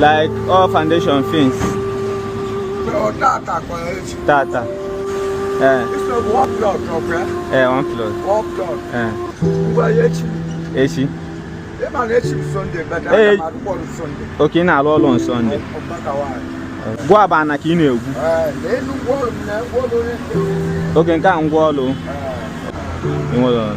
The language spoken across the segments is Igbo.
like all foundation things tata eh. eh one plot eh. echi eh. okay ị na-alụ ọlụ na Sunday gwuba ana ka ị na-egwu oge nke a ngwa ọlụ ị nwere ọrụ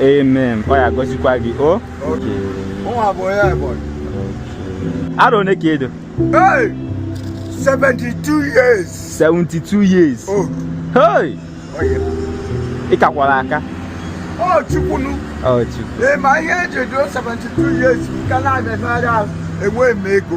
amen ọ ya gọzikwa gị o arọ one ka i do 72 years 72 years oh. hey ị kakwara aka ọ chukwunu ị ma ihe e ji edo 72 years nke na-abịa enweghị m ego